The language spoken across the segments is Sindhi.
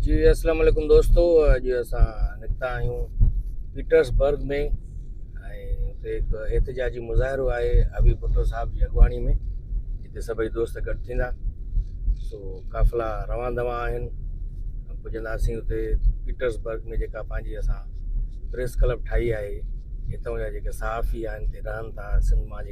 جي السلام عليڪم دوستو اڄ اسان نڪتا آهيون پيٽرسبرگ ۾ اتي هڪ احتجاجي مظاهرو آهي ابي ڀٽو صاحب جي اڳواڻي ۾ جتي سڀئي دوست گڏ ٿيندا سو قافلا روان دوان آهن پڄنداسين اتي پيٽرسبرگ ۾ جيڪا پنهنجي اسان پريس ڪلب ٺاهي آهي هتان جا جيڪي صحافي آهن هتي رهن ٿا سنڌ مان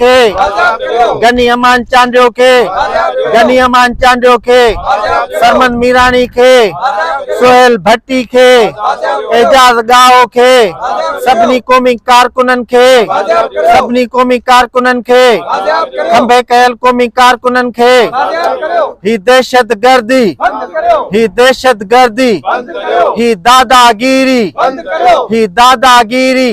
کي غني امان چانڊيو کي غني امان چانڊيو کي سرمن ميراڻي کي سهيل ڀٽي کي اعجاز ڳاهو کي سڀني قومي ڪارڪنن کي سڀني قومي ڪارڪنن کي کنڀي ڪيل قومي ڪارڪنن کي هي دهشت گردي هي دهشت گردي هي داداگيري هي داداگيري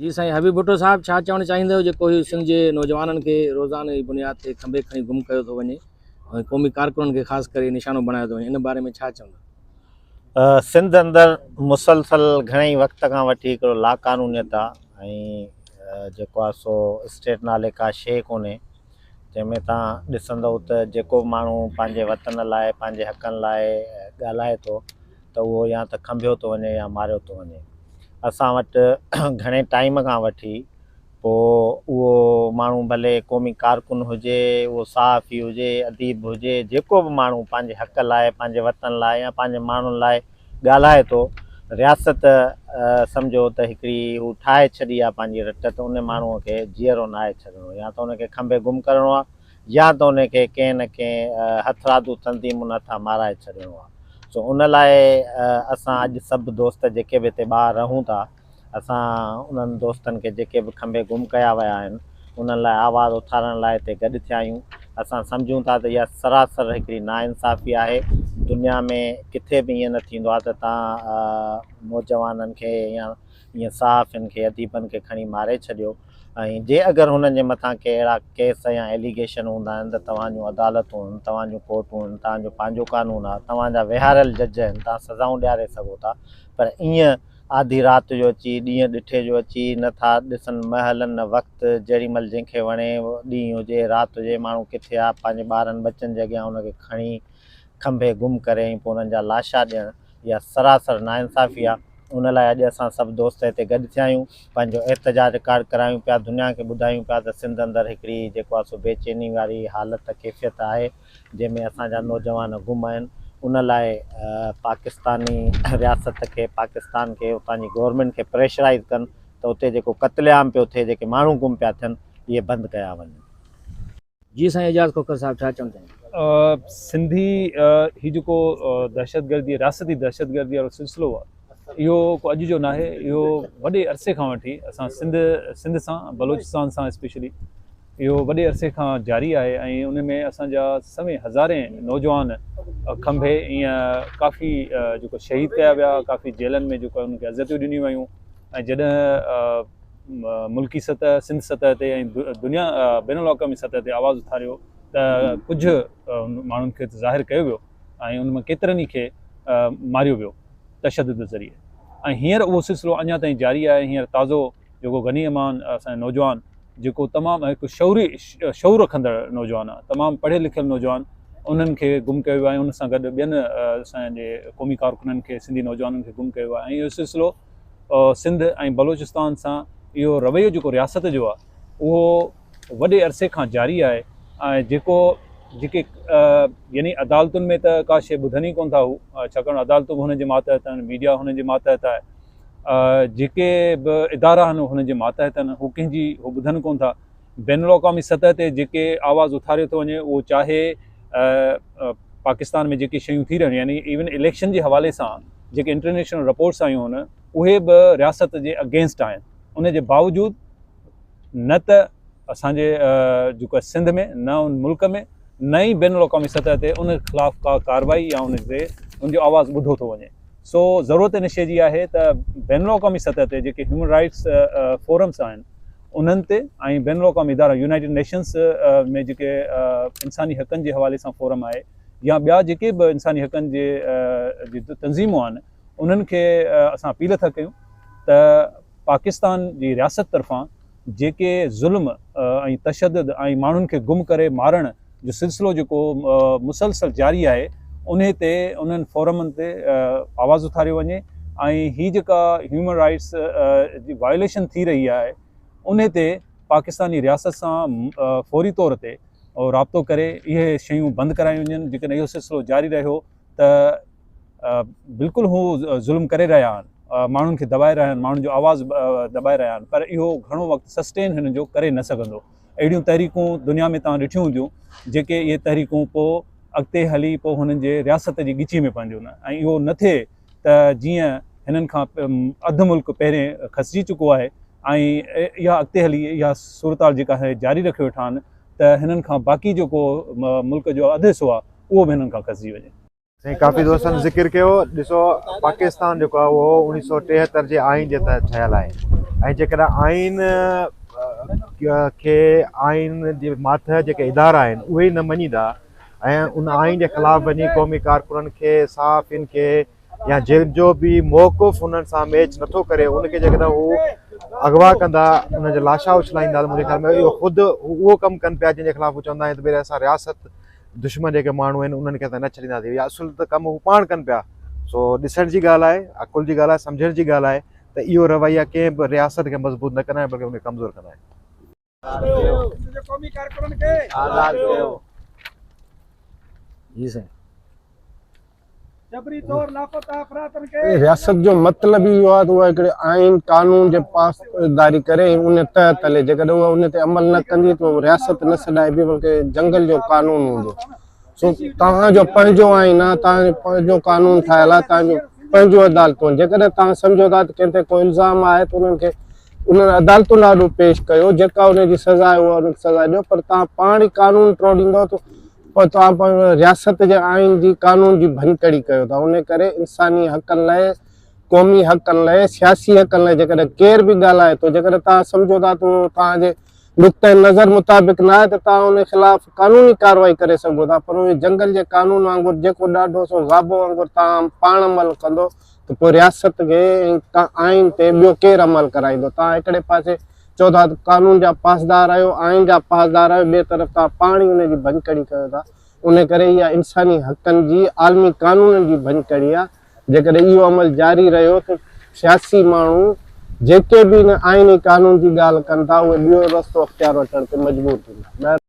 جي سائين حبيب ڀٽو صاحب ڇا چوڻ چاهيندؤ جيڪو هي سنڌ جي نوجوانن کي روزانه جي بنياد تي کنڀي کڻي گم ڪيو ٿو وڃي ۽ قومي ڪارڪنن کي خاص ڪري نشانو بڻايو ٿو وڃي ان باري ۾ ڇا چوندا؟ سنڌ اندر مسلسل گهڻي وقت کان وٺي هڪڙو لا قانونيت آ ۽ جيڪو آ سو اسٽيٽ نالي ڪا شي ڪونهي جنهن ۾ تان ڏسندؤ ته جيڪو ماڻهو پنهنجي وطن لاء پنهنجي حقن لاء ڳالهائي ٿو ته اهو يا ته کنڀيو ٿو وڃي يا ماريو ٿو وڃي. اسان وٽ گهڻي ٽائيم کان وٺي پوء اهو ماڻهو ڀلي قومي ڪارڪن هجي، اهو صحافي هجي، اديب هجي، جيڪو به ماڻهو پنهنجي حق لاء، پنهنجي وطن لاء يا پنهنجي ماڻهن لاء ڳالهائي ٿو، رياست سمجهو ته هڪڙي هو ٺاهي ڇڏي آهي پنهنجي رٽ ته ان ماڻهوء کي جيئرو ناهي ڇڏڻو يا ته ان کي کنڀي گم ڪرڻو آهي يا ته انهن کي ڪنهن نه ڪنهن هٿرادو تنظيمن هٿان مارائي ڇڏڻو آهي. سو ان لاء اسان اڄ سڀ دوست جيڪي به هتي ٻاهر رهون ٿا، اسان انهن دوستن کي جيڪي به کنڀي گم ڪيا ويا آهن، انهن لاء آواز اٿارڻ لاء هتي گڏ ٿيا آهيون. اسان سمجهون ٿا ته اها سراسر هڪڙي ناانصافي آهي. دنيا ۾ ڪٿي به ائين نه ٿيندو آهي ته توهان نوجوانن کي يا ائين صحافين کي اديبن کي کڻي ماري ڇڏيو ۽ جي اگر هنن جي مٿان ڪي اهڙا ڪيس يا ايليگيشن هوندا آهن ته توهان جون عدالتون هن توهان جون ڪورٽون هن توهان جو پنهنجو قانون آ توهان جا ويهاريل جج هن توهان سزائون ڏياري سگهو ٿا پر ائين آڌي رات جو اچي ڏينهن ڏٺي جو اچي نه ٿا ڏسن مهل نه وقت جهڙي مهل جنهن کي وڻي ڏينهن هجي رات هجي ماڻهو ڪٿي آ پنهنجي ٻارن ٻچن جي اڳيان هن کي کڻي کنڀي گم ڪري ۽ پوء هنن جا لاشا ڏيڻ اها سراسر ناانصافي آ ان لاء اڄ اسان سڀ دوست هتي گڏ ٿيا آهيون پنهنجو احتجاج رڪارڊ ڪرايون پيا دنيا کي ٻڌايون پيا ته سنڌ اندر هڪڙي جيڪو آ سو بي چيني واري حالت ڪيفيت آهي جنهن ۾ اسان جا نوجوان گم آهن ان لاء پاڪستاني رياست کي پاڪستان کي اتان جي گورنمينٽ کي پريشرائز ڪن ته اتي جيڪو قتل عام پيو ٿئي جيڪي ماڻهو گم پيا ٿين اهي بند ڪيا وڃن. جي سائين اعجاز کوکر صاحب ڇا چوڻ چاهيندا. سنڌي هي جيڪو دهشتگردي رياستي دهشتگردي وارو سلسلو آ اهو ڪو اڄ جو ناهي اهو وڏي عرصي کان وٺي اسان سنڌ سنڌ سان بلوچستان سان اسپيشلي اهو وڏي عرصي کان جاري آهي ۽ ان ۾ اسان جا سوين هزارين نوجوان کنڀي ائين ڪافي جيڪو شهيد ڪيا ويا ڪافي جيلن ۾ جيڪو انهن کي عزتيون ڏنيون ويون ۽ جڏهن ملڪي سطح، سنڌ سطح تي ۽ دنيا بين الاقوامي سطح تي آواز اٿاريو ته ڪجهه ماڻهن کي ته ظاهر ڪيو ويو ۽ ان مان ڪيترن ئي کي ماريو ويو تشدد ذريعي ۽ هينئر اهو سلسلو اڃا تائين جاري آهي هينئر تازو جيڪو غني امان اسان نوجوان جيڪو تمام هڪ شعوري شعور رکندڙ نوجوان آهي تمام پڙهيل لکيل نوجوان انهن کي گم ڪيو ويو آهي ان سان گڏ ٻين اسان جي قومي ڪارڪنن کي سنڌي نوجوانن کي گم ڪيو ويو آهي ۽ اهو سلسلو سنڌ ۽ بلوچستان سان اهو رويو جيڪو رياست جو آهي اهو وڏي عرصي کان جاري آهي ۽ جيڪو جيڪي يعني عدالتن ۾ ته ڪا شيء ٻڌن ئي ڪون ٿا هو ڇاڪاڻ عدالتون به هن جي ماتحت آهن ميڊيا هن جي ماتحت آهي جيڪي به ادارا آهن هن جي ماتحت آهن هو ڪنهن جي هو ٻڌن ڪون ٿا بين الاقوامي سطح تي جيڪي آواز اٿاريو ٿو وڃي اهو چاهي پاڪستان ۾ جيڪي شيون ٿي رهيون يعني ايون اليڪشن جي حوالي سان جيڪي انٽرنيشنل رپورٽس آيون هن اهي به رياست جي اگينسٽ آهن ان جي باوجود نه ته اسان جي جيڪو سنڌ ۾ نه ان ملڪ ۾ نه ئي بين الاقوامي سطح تي ان خلاف ڪا ڪارروائي يا ان تي ان جو آواز ٻڌو ٿو وڃي سو ضرورت ان شيء جي آهي ته بين الاقوامي سطح تي جيڪي هيومن رائيٽس فورمز آهن انهن تي ۽ بين الاقوامي ادارا يونائيٽيڊ نيشنز ۾ جيڪي انساني حقن جي حوالي سان فورم آهي يا ٻيا جيڪي به انساني حقن جي جي تنظيمون آهن انهن کي اسان اپيل ٿا ڪيون ته پاڪستان جي رياست طرفان جيڪي ظلم ۽ تشدد ۽ ماڻهن کي گم ڪري مارڻ جو سلسلو جيڪو مسلسل جاري آهي انهي تي انهن فورمن تي آواز اٿاريو وڃي ۽ هي جيڪا هيومن رائيٽس جي وائليشن ٿي رهي آهي انهي تي پاڪستاني رياست سان فوري طور تي رابطو ڪري اهي شيون بند ڪرايون وڃن جيڪڏهن اهو سلسلو جاري رهيو ته بلڪل هو ظلم ڪري رهيا آهن ماڻهن کي دٻائي رهيا آهن ماڻهن جو آواز دٻائي رهيا آهن پر اهو گهڻو وقت سسٽين هنن جو ڪري نه سگهندو اهڙيون تحريڪون دنيا ۾ توهان ڏٺيون هونديون جيڪي اهي تحريڪون پوء اڳتي هلي پوء هنن جي رياست جي ڳچي ۾ پونديون ۽ اهو نه ٿئي ته جيئن هنن کان اڌ ملڪ پهرين کسجي چڪو آهي ۽ اها اڳتي هلي اها صورتحال جيڪا جاري رکي ويٺا آهن ته هنن کان باقي جيڪو ملڪ جو اڌ حصو آهي اهو به هنن کان کسجي وڃي. سائين ڪافي دوستن ذڪر ڪيو ڏسو پاڪستان جيڪو آهي اهو اڻيهه سؤ ٽيهتر جي آئين جي تحت ٺهيل آهي ۽ جيڪڏهن آئين کي آئين جي ماتحت جيڪي ادارا آهن اهي ئي نه مڃيندا ۽ ان آئين جي خلاف وڃي قومي ڪارڪنن کي صحافين کي يا جن جو به موقف انهن سان ميچ نٿو ڪري ان کي جيڪڏهن هو اغوا ڪندا ان جا لاشا اڇلائيندا ته منهنجي خيال ۾ اهو خود اهو ڪم ڪن پيا جن جي خلاف هو چوندا آهن ته ڀيري اسان رياست دشمن جيڪي ماڻهو آهن انهن کي اسان نه ڇڏينداسين يا اصل ته ڪم هو پاڻ ڪن پيا سو ڏسڻ جي ڳالهه آهي عقل جي ڳالهه آهي سمجهڻ جي ڳالهه آهي ته اهو رويا ڪنهن به رياست کي مضبوط نه ڪندا آهن بلڪه ان کي ڪمزور ڪندا آهن. جي سائين. جبري طور لاپتا افرادن کي رياست جو مطلب ئي اهو آهي ته اها هڪڙي آئين قانون جي پاسداري ڪري ۽ ان تحت هلي جيڪڏهن اها ان تي عمل نه ڪندي ته اهو رياست نه سڏائبي بلڪه جنگل جو قانون هوندو سو توهان جو پنهنجو آئين آهي توهان جو پنهنجو قانون ٺاهيل آهي توهان جون پنهنجون عدالتون آهن جيڪڏهن توهان سمجهو ٿا ته ڪنهن تي ڪو الزام آهي ته انهن کي انهن عدالتن آڏو پيش ڪيو جيڪا ان جي سزا آهي اها ان کي سزا ڏيو پر توهان پاڻ ئي قانون ٽوڙيندؤ ته پر توهان پاڻ رياست جي آئين جي قانون جي ڀڃڪڙي ڪيو ٿا ان ڪري انساني حقن لاء قومي حقن لاء سياسي حقن لاء جيڪڏهن ڪير به ڳالهائي ٿو جيڪڏهن توهان سمجهو ٿا ته توهان جي نقطه نظر مطابق نه آهي ته توهان ان خلاف قانوني ڪارروائي ڪري سگهو ٿا پر اهي جنگل جي قانون وانگر جيڪو ڏاڍو سو غابو وانگر توهان پاڻ عمل ڪندو ته پوء رياست کي ۽ آئين تي ٻيو ڪير عمل ڪرائيندو؟ توهان هڪڙي پاسي چئو ٿا ته قانون جا پاسدار آهيو، آئين جا پاسدار آهيو، ٻئي طرف توهان پاڻ ئي ان جي ڀڃڪڙي ڪيو ٿا. ان ڪري اها انساني حقن جي عالمي قانونن جي ڀڃڪڙي آهي. جيڪڏهن اهو عمل جاري رهيو ته سياسي ماڻهو جيڪي به ان آئيني قانون جي ڳالهه ڪن ٿا، اهي ٻيو رستو اختيار وٺڻ تي مجبور ٿيندا.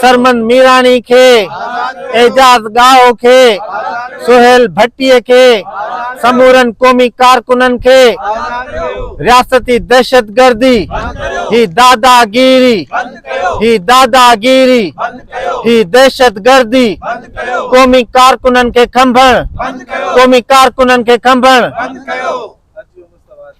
سرمن ميراڻي کي، اعجاز ڳاهو کي، سهيل ڀٽي کي، سمورن قومي ڪارڪنن کي رياستي دهشتگردي، هي داداگيري، هي داداگيري، هي دهشتگردي، قومي ڪارڪنن کي کنڀڻ، قومي ڪارڪنن کي کنڀڻ.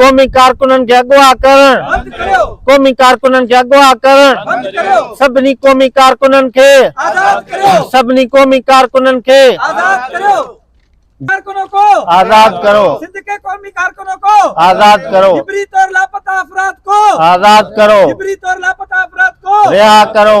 قومي ڪارڪنن کي اغوا ڪرڻ قومي ڪارڪنن کي اغوا ڪرڻ سڀني قومي ڪارڪنن کي سڀني قومي ڪارڪنن کي ڪارڪنوں کو آزاد کرو سندھ کي قومي ڪارڪنوں کو آزاد کرو جبري طور لاپتا افراد کو آزاد کرو جبري طور لاپتا افراد کو ريها کرو